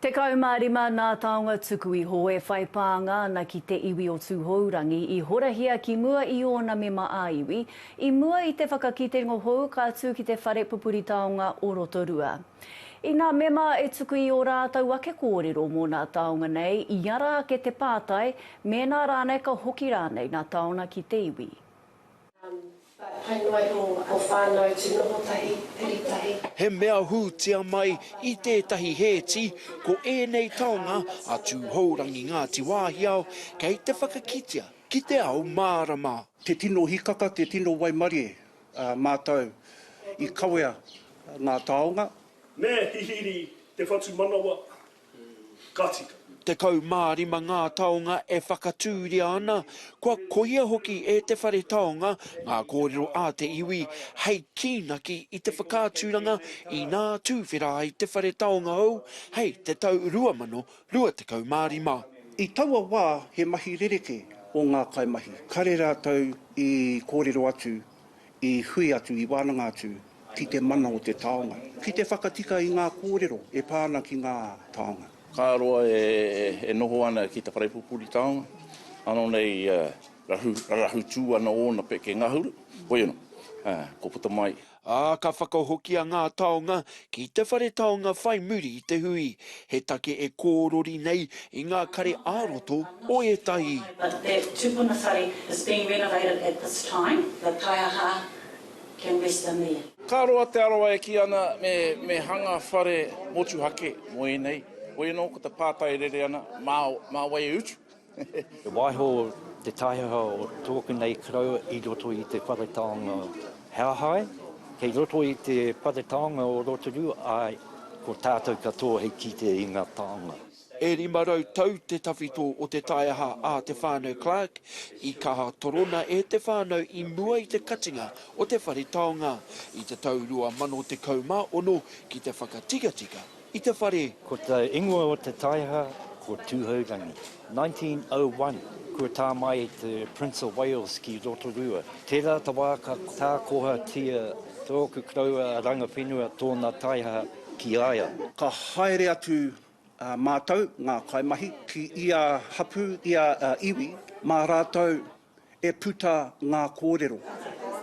15 nā taonga tuku iho e whai pānga ana ki te iwi o Tūhourangi i horahia ki mua i ōna mema ā-iwi, i mua i te whakakitengo hou ka tū ki te whare pupuri taonga o Rotorua. Inā mema e tuku i ō rātou ake kōrero mō nā taonga nei, i ara ake te pātai, mēnā rānei ka hoki rānei nā taona ki te iwi. Hai noa iho o whanau tu noho tahi, piri tahi. He mea hūtia mai i tētahi hēti ko ēnei taonga a Tūhourangi Ngāti Wāhiao kei te whakakitea ki te ao mārama. Te tino hikaka, te tino waimarie mātou i kawea ngā taonga. Me hihiri te whatumanawa ka tika. Tekau mā rima ngā taonga e whakatūria ana, kua kohia hoki e te whare taonga ngā kōrero a te iwi hei kīnaki i te whakaaturanga inā tūwhera ai te whare taonga hou hei te tau 2025. I taua wā he mahi rerekē o ngā kaimahi, kare rātou i kōrero atu I hui atu, i wānanga atu ki te mana o te taonga, ki te whakatika i ngā kōrero e pā ana ki ngā taonga. Ka roa e noho ana ki te wharepupuri taonga, ano nei rahu tū ana ōna peke ngahuru, koia no, ko puta mai. Ā, ka whakahokia ngā taonga Ki te whare taonga whai muri i te hui, he take e kōrori nei i ngā kare ā-roto o ētahi. But that tupuna whare is being renovated at this time, the taiaha can rest in there. Ka roa te aroa e kī ana me hanga whare motuhake mo ēnei, woi anō ko te pātai e rere ana, mā wai e utu? E waiho te taiaha o tōku nei karaua i roto i te whare taonga o Hauhai, kei roto i te whare taonga o Rotorua, āe, ko tātou katoa hei kite i ngā taonga. E rima rau tau te tawhito o te taiaha a Te Whānau Clark, i kaha torona e te whānau i mua i te katinga o te whare taonga i te tau 2016 ki te whakatikatika. I te whare. Ko te ingoa o te taeha ko Tūhourangi. 1901, kua tā mai te Prince of Wales ki Rotorua. Tērā te wā ka tākohatia tōku koroua a Rangawhenua tōna taeha ki a ia. Ka haere atu a mātou, ngā kaimahi, ki ia hapū, ia iwi, mā rātou e puta ngā kōrero.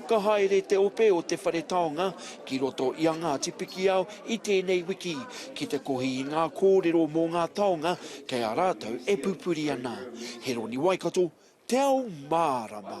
Ka haere te ope o Te Whare Taonga ki roto i a Ngāti Pikiao i tēnei wiki ki te kohi i ngā kōrero mō ngā taonga kei a rātou e pupuri ana. Heroni Waikato, Te Ao Mārama.